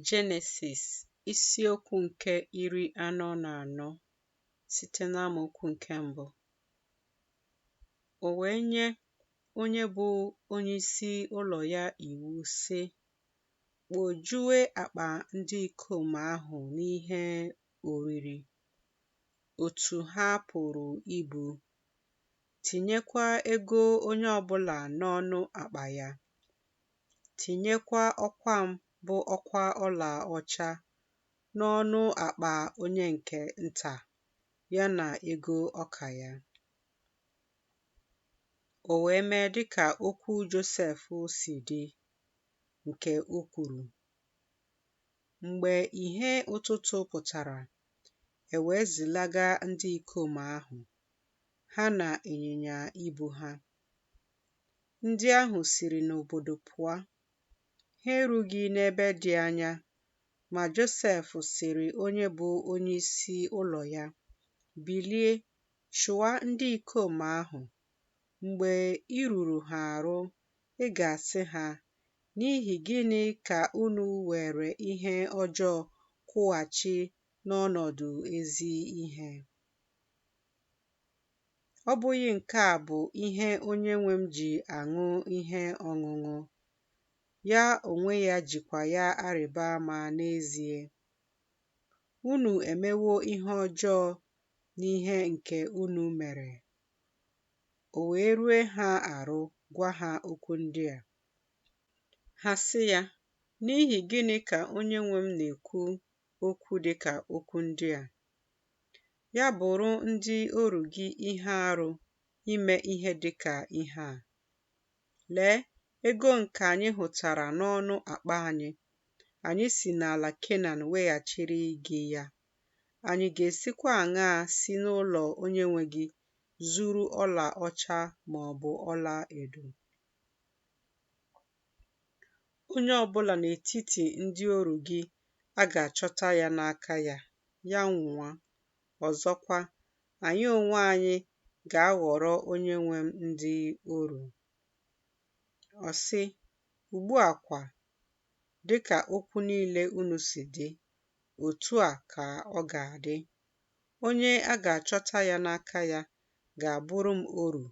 Jenesis isiokwu nke iri anọ na anọ site n'amaokwu nke mbụ o wee nye onye bụ onyeisi ụlọ ya iwu sị kpojue akpa ndị ikom ahụ n'ihe oriri otu ha pụrụ ibu tinyekwa ego onye ọbụla n'ọnụ akpa ya tinyekwa ọkwa m bụ ọkwa ọla ọcha n'ọnụ akpa onye nke nta, ya na ego ọka ya. O wee mee dịka okwu Josef si dị, nke o kwuru. Mgbe ìhè ụtụtụ pụtara, e wee zilaga ndị ikom ahụ, ha na ịnyịnya ibu ha. Ndị ahụ siri n'obodo pụọ. Ha erughị n'ebe dị anya, ma Josef sịrị onye bụ onye isi ụlọ ya, Bilie, chụwa ndị ikom ahụ. Mgbe i ruru ha arụ, ị ga-asị ha, N'ihi gịnị ka unu were ihe ọjọọ kwụghachi n'ọnọdụ ezi ihe? Ọ bụghị nke a bụ ihe onye nwe m ji aṅụ ihe ọṅụṅụ, ya onwe ya jikwa ya arịba ama n'ezie. Unu emewo ihe ọjọọ n'ihe nke unu mere. O wee rue ha arụ gwa ha okwu ndị a. Ha sị ya, N'ihi gịnị ka onye nwe m na-ekwu okwu dị ka okwu ndị a? Ya bụrụ ndị oru gị ihe arụ ime ihe dị ka ihe a. Lee, ego nke anyị hụtara n'ọnụ akpa anyị, anyị si n'ala Kenan weghachiri gị ya. Anyị ga-esikwa aṅaa si n'ụlọ onye nwe gị zuru ọla ọcha ma ọ bụ ọla edo? Onye ọbụla n'etiti ndị oru gị a ga-achọta ya n'aka ya, ya nwụa. Ọzọkwa, anyị onwe anyị ga-aghọrọ onye nwe m ndị oru. Ọ sị, Ugbu a kwa, dị ka okwu niile unu si dị, otu a ka ọ ga-adị. Onye a ga-achọta ya n'aka ya ga-abụrụ m oru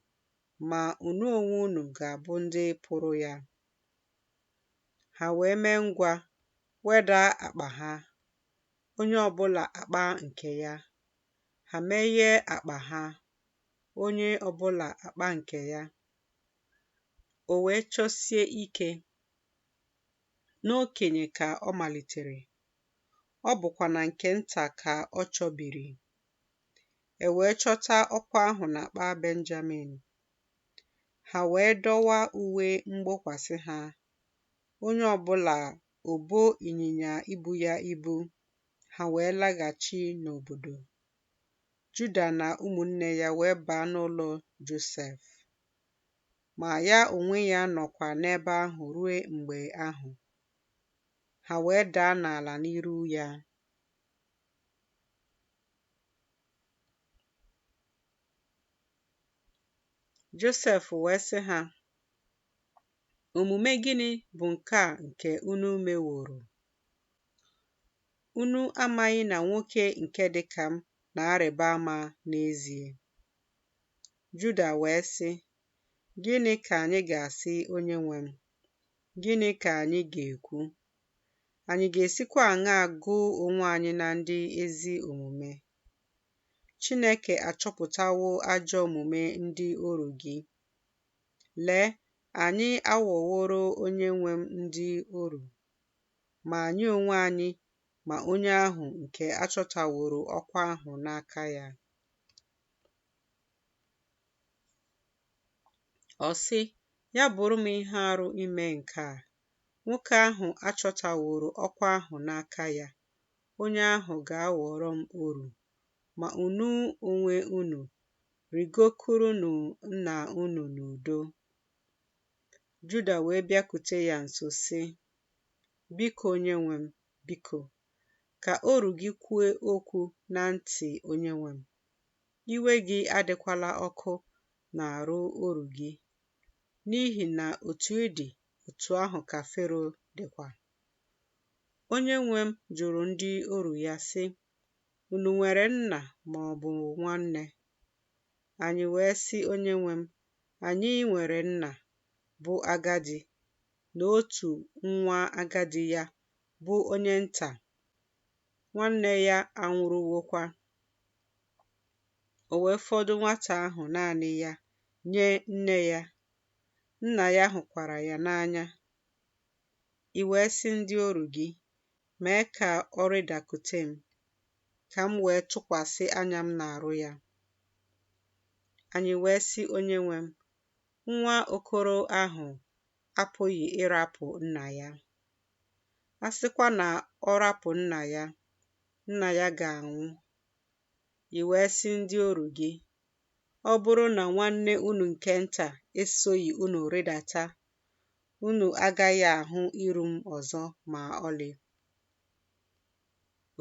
ma unu onwe unu ga-abụ ndị pụrụ ya. Ha wee mee ngwa wedaa akpa ha, onye ọ bụla akpa nke ya. Ha meghee akpa ha, onye ọ bụla akpa nke ya. O wee chọsie ike. N'okenye ka ọ malitere, ọ bụkwa na nke nta ka ọ chọbiri. e wee chọta ọkwa ahụ n'akpa Benjamin. Ha wee dọwa uwe mgbokwasị ha, onye ọbụla o bo ịnyịnya ibu ya ibu, ha wee laghachi n'obodo. Juda na ụmụnne ya wee baa n'ụlọ Josef. Ma ya onwe ya nọkwa n'ebe ahụ ruo mgbe ahụ. Ha wee daa n'ala n'iru ya. Josef wee sị ha, Omume gịnị bụ nke a nke unu meworo? Unu amaghị na nwoke nke dị ka m na-arịba ama n'ezie? Juda wee sị, Gịnị ka anyị ga-asị onye nwe m? Gịnị ka anyị ga-ekwu? Anyị ga-esikwa aṅaa gụọ onwe anyị na ndị ezi omume? Chineke achọpụtawo ajọ omume ndị oru gị. Lee, anyị aghọworo onye nwe m ndị oru, ma anyị onwe anyị ma onye ahụ nke achọtaworo ọkwa ahụ n'aka ya. Ọ sị, Ya bụrụ m ihe arụ ime nke a. nwoke ahụ achọtaworo ọkwa ahụ n'aka ya, onye ahụ ga-aghọrọ m oru. Ma unu onwe unu, rigokwurunụ nna unu n'udo. Juda wee bịakute ya nso sị, Biko onyenwe m, biko, ka oru gị kwue okwu na ntị onyenwe m. Iwe gị adịkwala ọkụ n'arụ oru gị, n'ihi na otu ị dị, otu ahụ ka Fero dịkwa. Onye nwe m jụrụ ndị oru ya, sị, Unu nwere nna ma ọ bụ nwanne? Anyị wee sị onye nwe m, Anyị nwere nna, bụ agadi, na otu nwa agadi ya, bụ onye nta, nwanne ya anwụrụwokwa. o wee fọdụ nwata ahụ naanị ya nye nne ya. Nna ya hụkwara ya n'anya. I wee sị ndị oru gị, Mee ka ọ rịdakute m, ka m wee tụkwasị anya m n'arụ ya. Anyị wee sị Onyenwe m, Nwa okoro ahụ apụghị ịrapụ nna ya. A sịkwa na ọ rapụ nna ya, nna ya ga-anwụ, i wee sị ndị oru gị, Ọ bụrụ na nwanne unu nke nta esoghị unu rịdata, unu agaghị ahụ iru m ọzọ ma ọlị.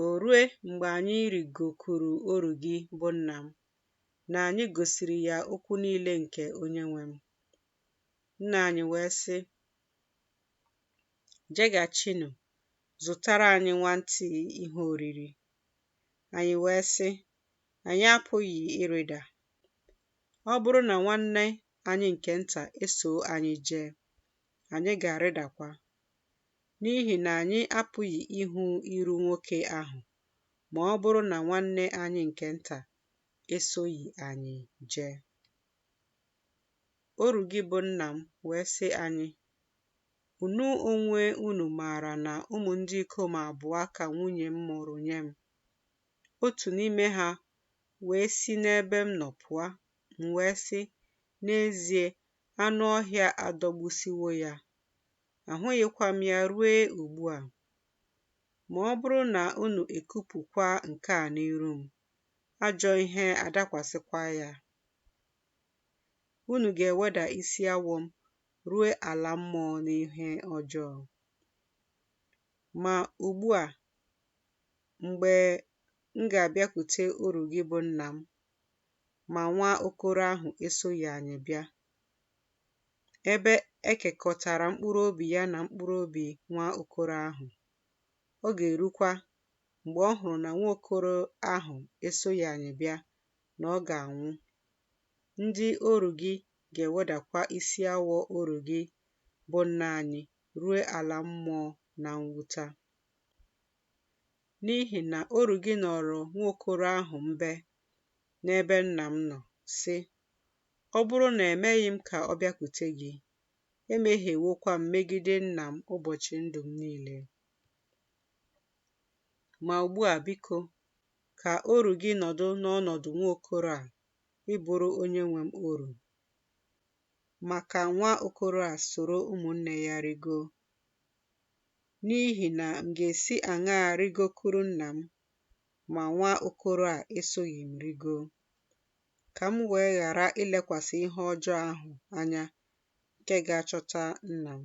O rue mgbe anyị rịgokwuru oru gị bụ nna m, na anyị gosiri ya okwu niile nke onyenwe m. Nna anyị wee sị, Jeghachinụ zụtara anyị nwantịị ihe oriri. Anyị wee sị, Anyị apụghị ịrịda. Ọ bụrụ na nwanne anyị nke nta esoo anyị jee, anyị ga-arịdakwa, n'ihi na anyị apụghị ịhụ iru nwoke ahụ ma ọ bụrụ na nwanne anyị nke nta esoghị anyị jee. Oru gị bụ nna m wee sị anyị, Unu onwe unu maara na ụmụ ndị ikom abụọ ka nwunye m mụrụ nye m. Otu n'ime ha wee si n'ebe m nọ pụọ, m wee sị, N'ezie, anụ ọhịa adọgbusiwo ya, ahụghịkwa m ya ruo ugbu a. Ma ọ bụrụ na unu ekupụkwa nke a n'iru m, ajọ ihe adakwasịkwa ya. Unu ga-eweda isi awọ m ruo ala mmụọ n'ihe ọjọọ. Ma ugbu a, mgbe m ga-abịakwute oru gị bụ nna m, ma nwa okoro ahụ esoghị anyị bịa, ebe e kekọtara mkpụrụ obi ya na mkpụrụ obi nwa okoro ahụ, ọ ga-erukwa mgbe ọ hụrụ na nwa okoro ahụ esoghị anyị bịa na ọ ga-anwụ. Ndị oru gị ga-ewedakwa isi awọ oru gị bụ nna anyị ruo ala mmụọ na mwuta. N'ihi na oru gị nọọrọ nwa okoro ahụ mbe n'ebe nna m nọ, sị, Ọ bụrụ na emeghị m ka ọ bịakwute gị, emehiewokwa m megide nna m ụbọchị ndụ m niile. Ma ugbu a, biko, ka oru gị nọdụ n'ọnọdụ nwa okoro a ịbụrụ onye nwe m oru. Ma ka nwa okoro a soro ụmụnne ya rigo, n'ihi na m ga-esi aṅaa rigokuru nna m ma nwa okoro a esoghị m rigo, ka m wee ghara ilekwasị ihe ọjọọ ahụ anya nke ga-achọta nna m?